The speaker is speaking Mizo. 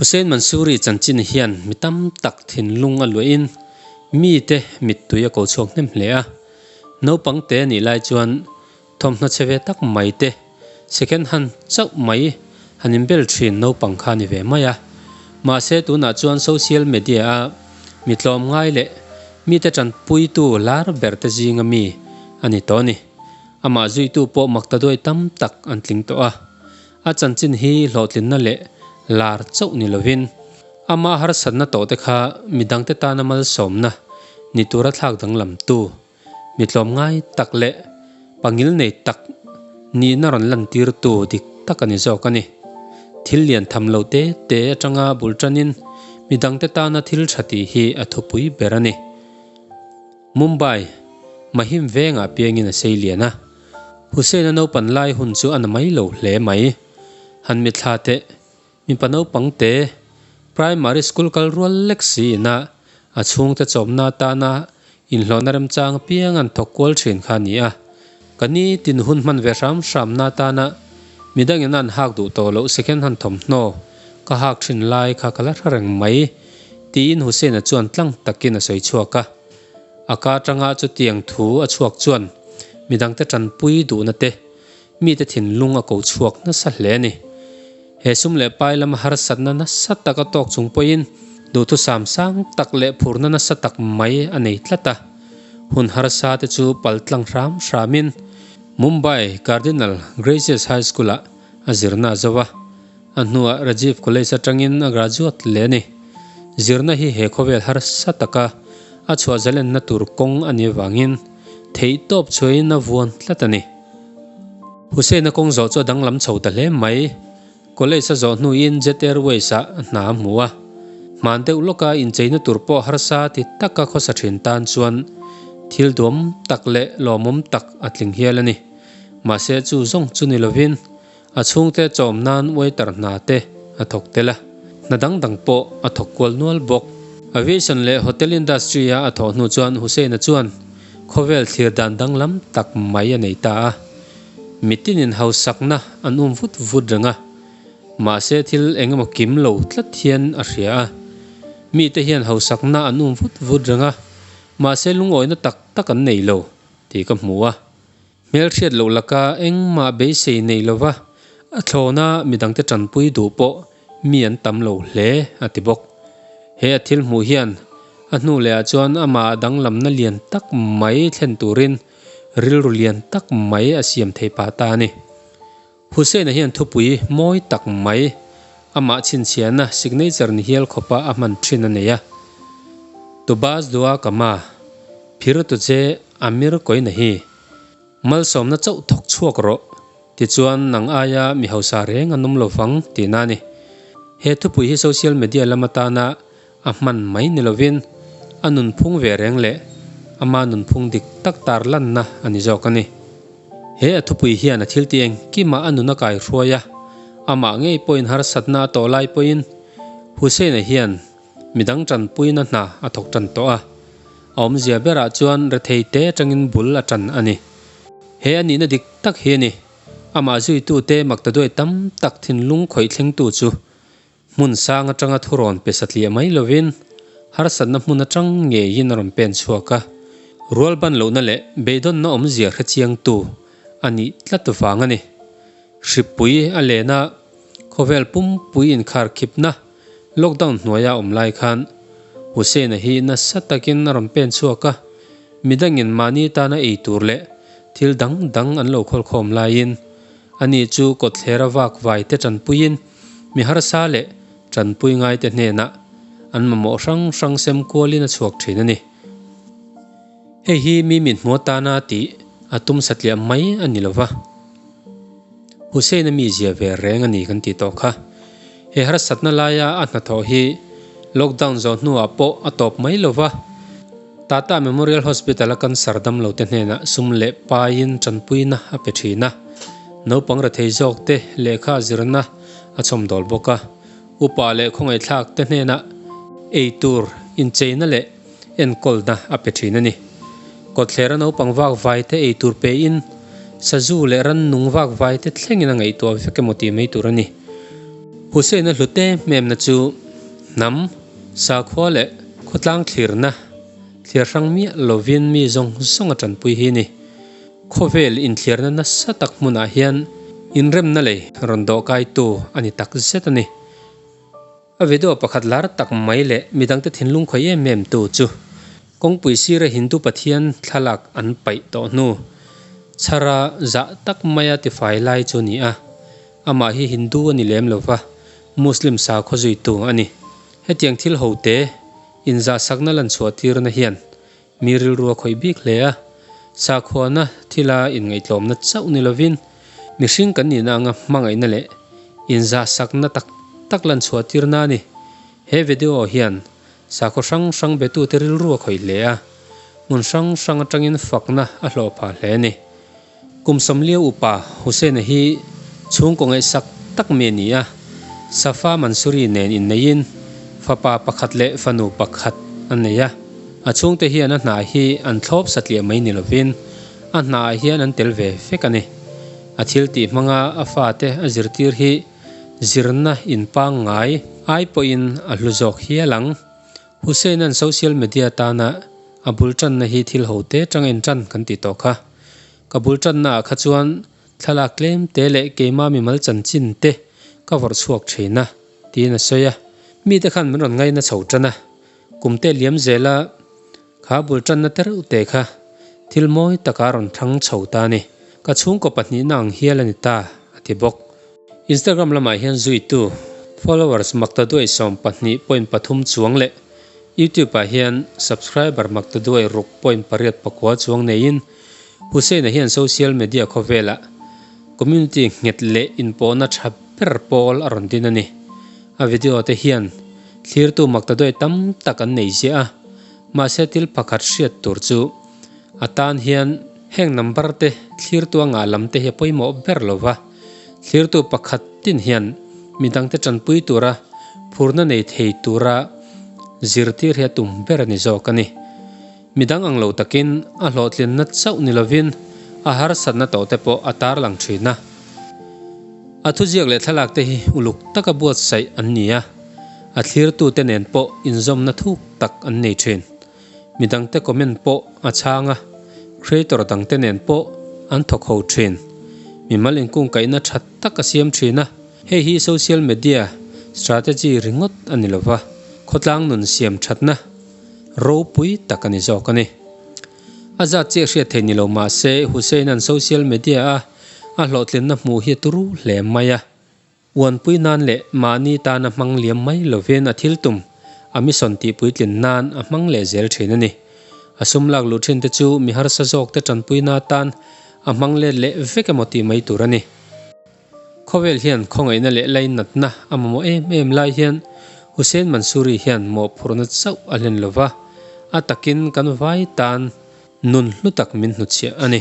Hussain Mansoori chanchin hian mi tam tak thinlung a luah in mite mittui a ko chhuak hnep hle a. Naupangte nih lai chuan Thawmhnaw che ve tak mai te, second hand chauh mai han inbel thin naupang kha a ni ve mai a. Mahse tunah chuan social media-a mi tlawm ngai leh mite tanpuitu lar ber te zinga mi a ni tawh a ni. Amah zuitu pawh mak ta duai tam tak an tling tawh a. A chanchin hi hlawhtlinna leh lar chauh ni lovin, ama harsatna tawhte kha midangte tana malsawmna ni tura thlak danglam tu, Mi tlawm ngai tak leh pangil nei tak nihna rawn lantirtu dik tak a ni zawk a ni. Thil lian tham lo te te atanga bul tanin mi dangte tana thil tha tih hi a thupui ber a ni. Mumbai, Mahim vengah piangin a sei lian a, Hussaina naupan lai hun chu a na mai lo hle mai. Han mitthla teh Mipa naupangte Primary School kal rual lek siin a, a chhungte chawmna atana inhlawhna remchang apianga an thawk kual thin kha a ni a. Ka ni tin hun hman ve hram hramna atana mi dangin a an hak duh tawh loh si khen han thawmhnaw ka hak thin lai kha ka la hre reng mai, tiin Hussaina chuan tlang takin a sawi chhuak a. A ka atanga chutiang thu a chhuak chuan midangte tanpui duhna te, Mite thinlung a ko chhuak nasa hle a ni. He sum leh pai lama harsatna nasa tak a tawk chung pawhin duhthusam sang tak leh phurna nasa tak mai a nei tlat a. Hun harsa te chu paltlang hram hramin Mumbai Cardinal Gracious High School-ah a zirna a zo a. A hnuah Rajiv College atangin a graduate leh a ni. Zirna hi he khawvel harsa taka a chhuahzal enna tur kawng a ni avangin theihtawp chhuahin a vuan tlat a ni. Hussaina kawng zawh chu a danglam chho ta hle mai. College a zawh hnuin Jet Airways ah a hna a hmu a. Hman deuh lawka incheina tur pawh harsa ti taka khawsa thin tan chuan thil duam tak leh lawmawm tak a tling hial a ni. Mahse chu zawng chu ni lovin A chhungte a chawm nan waiter hna te a thawk tel a, hna dang dang pawh a thawk kual nual bawk. Aviation leh hotel industry-a a thawh hnu chuan Hussain-a chuan khawvel thlir dan danglam tak mai a nei ta a, mitin in hausakna an um vut vut reng a, mahse thil engemaw kim lo tlat hian a hria a. Mite hian hausakna an um vut vut reng a, mahse lungawina tak tak an nei lo tih ka hmu a, Hmelhriat loh laka engmah beisei nei lova a thlawna midangte tanpui duh pawh mi an tam lo hle a ti bawk. He a thil hmuh hian a hnu lehah chuan amah a danglamna lian tak mai thlen turin rilru lian tak mai a siam thei pah ta a ni. Hussaina hian thupui mawi tak mai amah chhinchhiahna signature ni hial khawpa a hman thin a nei a. Tubaz dua kama phirtu che Amir kawina hi malsawmna chauh thawk chhuak rawh tichuan nang aia mi hausa reng a num lovang tihna a ni. He thupui hi social media lam atana A hman mai ni lovin a nunphung ve reng leh ama nunphung dik tak tar lanna a ni zawk a ni. He a thupui hian a thiltih engkimah a nun a kai hruai a, amah ngei pawhin harsatna a tawh lai pawhin Hussein-a hian midang tanpuina hna a thawk tan tawh a. A awmzia berah chuan rethei te atangin bul a tan a ni. He a nihna dik tak hi a ni, amah zuitute Maktaduai tam tak thinlung khawih thlengtu chu Hmun sang atanga thu rawn pe satliah mai lovin harsatna hmun atang ngeiin a rawn pen chhuak a, rual ban lohna leh beidawnna awmzia hre chiang tu a nih tlat vang a ni. Hripui a lena khawvel pumpui inkharkhipna lockdown hnuaia awm lai khan Hussaina hi nasa takin a rawn pen chhuak a, midangin mahni tana ei tur leh thil dang dang an lo khawlkhawm laiin ani chu kawtthler a vak vaite tanpuiin, Mi harsa leh tanpui ngaite hnena an mamawh hrang hrang sem kualin a chhuak thin a ni. Hei hi mi minhmuah tana tih a tum satliah mai a ni lo va. Hussein-a mi zia ve reng a ni kan tih tawh kha. He harsatna laia a hnathawh hi lockdown zawh hnuah pawh a tawp mai lo va. Tata Memorial Hospital-a kan sardam lote hnenah sum leh paiin tanpuina a pe thin a, naupang rethei zawkte lehkha zirna a chawmdawl bawk a, upa leh khawngaihthlakte hnenah eitur incheina leh enkawlna a pe thin a ni. Kawtthlerah naupang vakvaite eitur pein sazu leh rannung vakvaite thlengin a ngaihtuah vek emaw tih mai tur a ni. Hussein-a hlute hmemna chu hnam. Sakhua leh khawtlang thlirna thlir hrang miah lovin mi zawng zawnga tanpui hi ni. Khawvel inthlirna nasa tak hmunah hian inremna lei rawn dawhkaitu a ni tak zet a ni. A video pakhat lar tak mai leh mi dangte thinlung khawih em em tu chu kawngpui sira Hindu pathian thlalak an paih tawh hnu chhara zah tak maia tifai lai chu a ni a. Amah hi Hindu a ni lem lo va, Muslim sakhaw zui tu a ni. Hetiang thil ho te inzahsakna lan chhuahtirna hian mi rilru a khawih bik hle a. Sakhuana thila inngaihtlawmna chauh ni lovin mihring kan nihna anga hmangaihna leh inzahsakna tak tak lan chhuahtirna a ni. He video hian sakhaw hrang hrang betute rilru a khawih hle a, hmun hrang hrang atangin fakna a hlawhpha hle a ni. Kum sawmlio upa Hussaina hi chhungkaw ngaihsak tak mi a ni a, Safa Mansuri nen inneiin fapa pakhat leh fanu pakhat an nei a. A chhungte hian a hna hi an thlawp satliah mai ni lovin a hnaah hian an tel ve fek a ni. A thiltih hmanga a fate a zirtir hi zirna in pangngai ai pawhin a hlu zawk hial ang. Hussaina'n social media tana a bul tanna hi thil ho te atanga in tan kan ti tawh kha. Ka bul tannaah kha chuan thlalak tlem te leh keima mimal chanchin te ka vawrh chhuak thin a, tiin a sawi a. Mite khan min rawn ngai na chho tan a, kum te liam zela kha bul tanna te reuh te kha thil mawi taka rawn thlang chho ta a ni. Ka chhungkaw pahnihna ang hial a ni ta, a ti bawk. Instagram lamah hian zuitu, followers, makta duai sawm pahnih point pathum chuang leh Youtube ah hian subscriber makta duai ruk point pariat pakua chuang neiin Hussein a hian social media khawvelah community nghet leh inpawhna tha ber pawl a rawn din a ni. A video te hian thlirtu makta duai tam tak an nei ziah a, mahse thil pakhat hriat tur chu a tan hian heng number te thlirtu a ngah lam te hi a pawimawh ber lo va, Thlirtu pakhat tin hian midangte tanpui tura phurna nei thei tura zirtir hi a tum ber a ni zawk a ni. Midang ang lo takin a hlawhtlinna chauh ni lovin a harsatna tawh te pawh a tarlang thin a. A thuziak leh thlalakte hi uluk taka buatsaih an ni a, a thlirtute nen pawh inzawmna thuk tak an nei thin. Mi dangte comment pawh a chhang a, creator dangte nen pawh an thawkho thin. Mimal inkungkaihna tha tak a siam thin a, hei hi social media strategy ringawt a ni lova, khawtlang nun siam thatna ropui tak a ni zawk a ni. A zat chi a hriat thei ni lo mahse Hussain-a'n social media-a a hlawhtlinna hmuh hi a turu hle mai a. Uanpui nan leh mahni tana hmang liam mai lovin a thil tum, a mission tihpuitlin nan a hmang leh zel thin a ni. A sum lak luh thinte chu mi harsa zawkte tanpuina atan a hmang let leh vek emaw tih mai tur a ni. Khawvel hian khawngaihna leh lainatna a mamawh em em lai hian Hussein Mansoori hian mawhphurhna chauh a hlen lova, a takin kan vai tan nun hlutak min hnuchhiah a ni.